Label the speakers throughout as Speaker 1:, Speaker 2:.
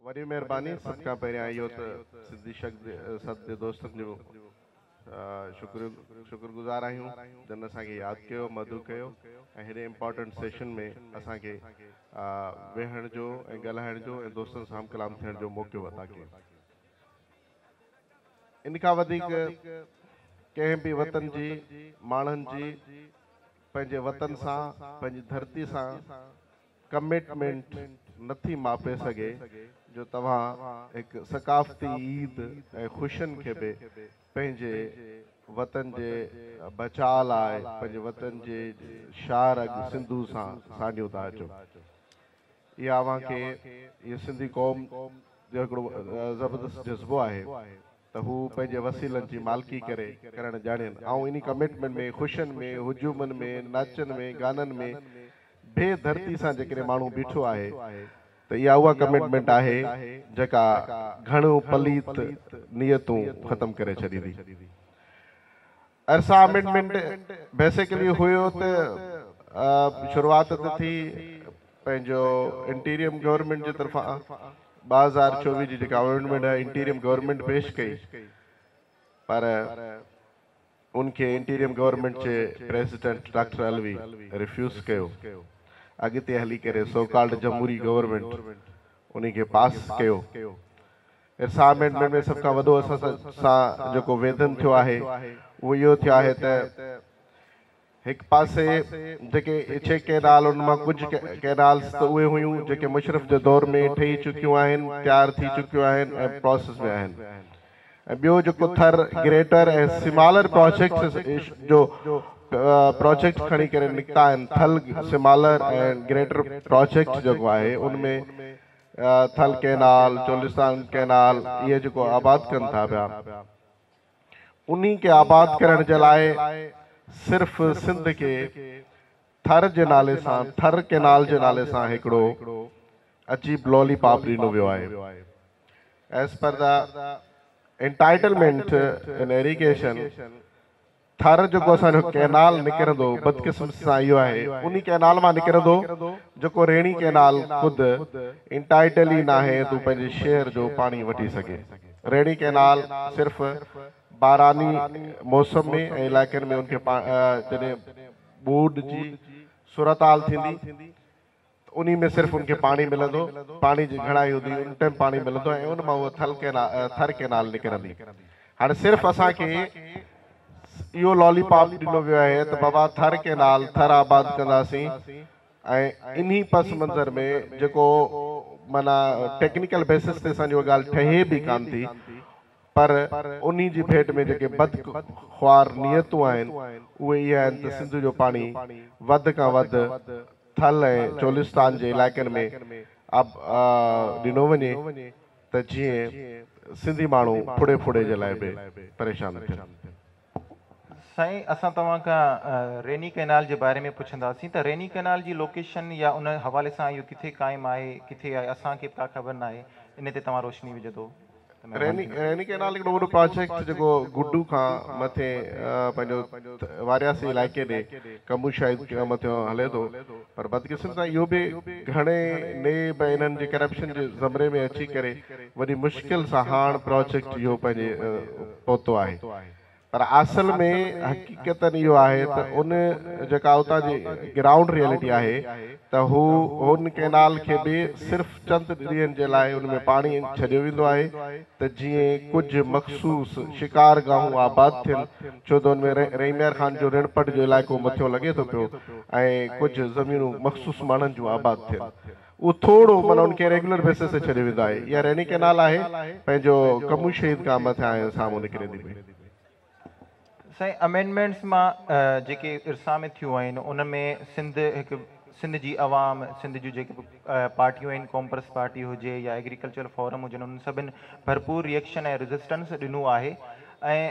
Speaker 1: وڏي مهرباني سڀ کان پهريان اهو ته سنڌي شگد سد جي دوستن جو شڪر شڪر گذار آهيون جن اسان کي ياد ڪيو مدعو ڪيو ۽ هيڏي امپارٽنٽ سيشن ۾ اسان کي ويهڻ جو ۽ ڳالهائڻ جو ۽ دوستن سان هم ڪلام ٿيڻ جو موقعو عطا ڪيو ان کان وڌيڪ ڪنهن به وطن جي ماڻهن جي پنهنجي وطن سان پنهنجي ڌرتي سان ڪمٽمينٽ نه ٿي ماپي سگهي جو توهان هڪ ثقافتي عيد ۽ خوشين کي به پنهنجي وطن جي بچاء لاء پنهنجي وطن جي شاهه رڳ سنڌو سان ساڃيو ٿا اچو اها اوهان کي اهي سنڌي قوم جو هڪڙو زبردست جذبو آهي. ته هو پنهنجي وسيلن جي مالڪي ڪري ڪرڻ ڄاڻين. آئون انهي ڪمٽمينٽ ۾ خوشين ۾ هجومن ۾ ناچن ۾ گانن ۾ بي ڌرتي سان جيڪڏهن ماڻهو بيٺو آهي ته اها اها ڪمٽمينٽ آهي جيڪا گهڻيون پليت نيتون ختم ڪري ڇڏيندي. ارسا امينڊمينٽ بيسيڪلي هيو ته شروعات ته ٿي پنهنجو انٽيريم گورنمينٽ جي طرفان ٻه هزار چوويهه جي جيڪا امينڊمينٽ هيا انٽيريم گورنمينٽ پيش ڪئي پر ان کي انٽيريم گورنمينٽ جي پريزيڊنٽ ڊاڪٽر علوي ريفيوز ڪيو اڳتي هلي ڪري سو ڪالڊ جمهوري گورنمينٽ انهي کي پاس ڪيو اسائنمينٽ ۾ سڀ کان وڏو اسان سان جيڪو ويڌن ٿيو آهي اهو اهو ٿيو آهي ته هڪ پاسي جيڪي ڇهه ڪئنال ان مان ڪجهه ڪئنالز ته اهي هيون جيڪي مشرف جي دور ۾ ٺهي چڪيون آهن تيار ٿي چڪيون آهن ۽ پراسيس ۾ آهن ۽ ٻيو جيڪو ٿر گريٽر ۽ سمالر پراجيڪٽس جو پراجيڪٽس کڻي ڪري نڪتا آهن ٿل سمالر ۽ گريٽر پراجيڪٽس جيڪو آهي ان ۾ ٿل ڪئنال، چولستان ڪئنال اهي جيڪو آباد ڪن ٿا پيا، انهي کي آباد ڪرڻ جي لاء صرف سنڌ کي ٿر جي نالي سان، ٿر ڪئنال جي نالي سان هڪڙو عجيب لولي پاپ ڏنو ويو آهي. As per the entitlement in irrigation، Thar جيڪو اسان جو ڪئنال نڪرندو بدقسمتي سان اهو آهي انهي ڪئنال مان نڪرندو جيڪو ريڻي ڪئنال خود انٽائيٽل ئي ناهي تو پنهنجي شهر جو پاڻي وٺي سگهي ريڻي ڪئنال صرف باراني موسم ۾ ۽ علائقن ۾ ان کي جڏهن ٻوڏ جي صورتحال ٿيندي ته انهي ۾ صرف ان کي پاڻي ملندو، پاڻي جي گهڻائي هوندي، ان ٽئم پاڻي ملندو ۽ ان مان اها ٿر ڪئنال نڪرندي. هاڻي صرف اسان کي اهو لالي پاپ ڏنو ويو آهي ته بابا ٿر ڪئنال، ٿر آباد ڪنداسين ۽ انهي پس منظر ۾ جيڪو معنيٰ ٽيڪنيڪل بيسس تي اسان جي اها ڳالهه ٺهي به ڪانه ٿي پر انهي جي ڀيٽ ۾ جيڪي بد خوار نيتون آهن اهي اها آهن ته سنڌو جو پاڻي وڌ کان وڌ ٿل ۽ چولستان جي علائقن ۾ اڀ ڏنو وڃي ته جيئن سنڌي ماڻهو ڦڙي ڦڙي جي لاء به پريشان نه ٿين.
Speaker 2: سائين اسان توهان کان ريني ڪئنال جي باري ۾ پڇنداسين ته ريني ڪئنال جي لوڪيشن يا ان حوالي سان اهو ڪٿي قائم آهي ڪٿي آهي اسان کي به ڪا خبر ناهي ان تي توهان روشني وجهدو. ريني
Speaker 1: ڪئنال هڪڙو وڏو پراجيڪٽ جيڪو گڊو کان مٿي پنهنجو وارياسي علائقي ڏي ڪمبو شاهد مٿيو هلي ٿو پر بدقسمتي سان اهو به گهڻي نيب ۽ انهن جي ڪرپشن جي زمري ۾ اچي ڪري وڏي مشڪل سان هاڻ پراجيڪٽ اهو پنهنجي پهتو آهي. پر اصل ۾ حقيقت اهو آهي ته ان جيڪا اتان جي گرائونڊ ريئلٽي آهي ته هو هن ڪئنال کي به صرف چند ڏينهن جي لاء ان ۾ پاڻي ڇڏيو ويندو آهي ته جيئن ڪجهه مخصوص شڪار گاهون آباد ٿين ڇو ته ان ۾ ريميار خان جو رڻپٽ جو علائقو مٿيون لڳي ٿو پيو ۽ ڪجهه زمينون مخصوص ماڻهن جون آباد ٿين. اهو ٿورو معنيٰ ان کي ريگيولر بيسس تي ڇڏيو ويندو آهي يا ريني ڪئنال آهي پنهنجو ڪمون شهيد کان مٿي آهيون سامهون نڪري ٿي پئي.
Speaker 2: سائين امينڊمينٽس مان جيڪي ارسا ۾ ٿيون آهن ان ۾ سنڌ هڪ سنڌ جي عوام سنڌ جون جيڪي به پارٽيون آهن ڪومپرس پارٽي هجي يا ايگريڪلچر فورم هجن انهن سڀن ڀرپور ريئڪشن ۽ ريزسٽنس ڏنو آهي ۽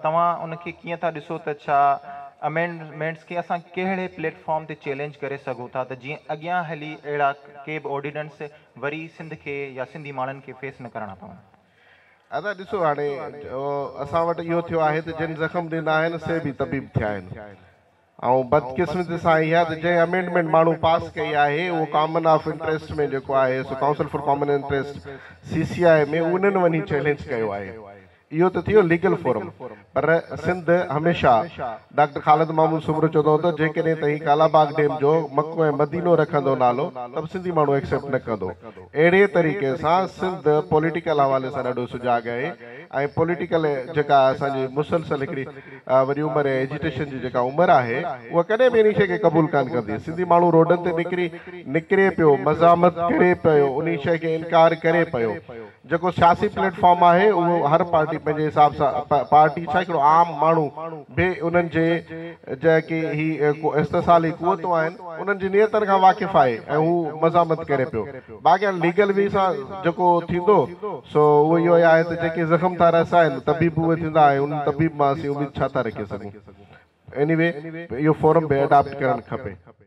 Speaker 2: توهان ان کي ڪيئن ٿا ڏسو ته ڇا امينڊمينٽس کي اسان ڪهڙي پليٽ فارم تي چئلينج ڪري سگهون ٿا ته جيئن اڳيان هلي اهڙا ڪي به آرڊيننس وري سنڌ کي يا سنڌي ماڻهن کي فيس نه ڪرڻا پون. ادا
Speaker 1: ڏسو هاڻي اسان وٽ اهو ٿيو آهي ته جن زخم ڏنا آهن سي به طبيب ٿيا آهن. ۽ بدقسمتي سان اها ته جنهن امينڊمينٽ ماڻهو پاس ڪئي آهي اهو ڪامن آف انٽريسٽ ۾ جيڪو آهي سو council for common interest, C C I, ۾ انهن وڃي چئلينج ڪيو آهي. اهو ته ٿيو ليگل فورم پر سنڌ هميشه ڊاڪٽر خالد محمود سومرو چوندو هوندو جيڪڏهن توهين ڪالا باغ ڊيم جو مڪو ۽ مدينو رکندو نالو ته به سنڌي ماڻهو ايڪسيپٽ نه ڪندو. اهڙي طريقي سان سنڌ پوليٽيڪل حوالي سان ڏاڍو سجاڳ آهي ۽ پوليٽيڪل جيڪا اسان جي مسلسل هڪڙي وري عمر ۽ ايجيٽيشن جي جيڪا عمر آهي اها ڪڏهن به انهي شيء کي قبول ڪانه ڪندي. سنڌي ماڻهو روڊن تي نڪري نڪري پيو، مزاحمت ڪري پيو، انهي شيء کي انڪار ڪري پيو. جيڪو سياسي پليٽ فارم آهي اهو هر پارٽي پنهنجي حساب سان پارٽي ڇا هڪڙو عام ماڻهو به انهن جي جيڪي هي استحصالي قوتون آهن انهن جي نيتن کان واقف آهي ۽ هو مزاحمت ڪري پيو. باقي ليگل وي سان جيڪو ٿيندو سو اهو اهو ئي آهي ته جيڪي زخم ٿا رسائن طبيب اهي ٿيندا ۽ انهن طبيب مان اسين اميد ڇا ٿا رکي سگهون. ايني وي اهو فورم به اڊاپٽ ڪرڻ کپي.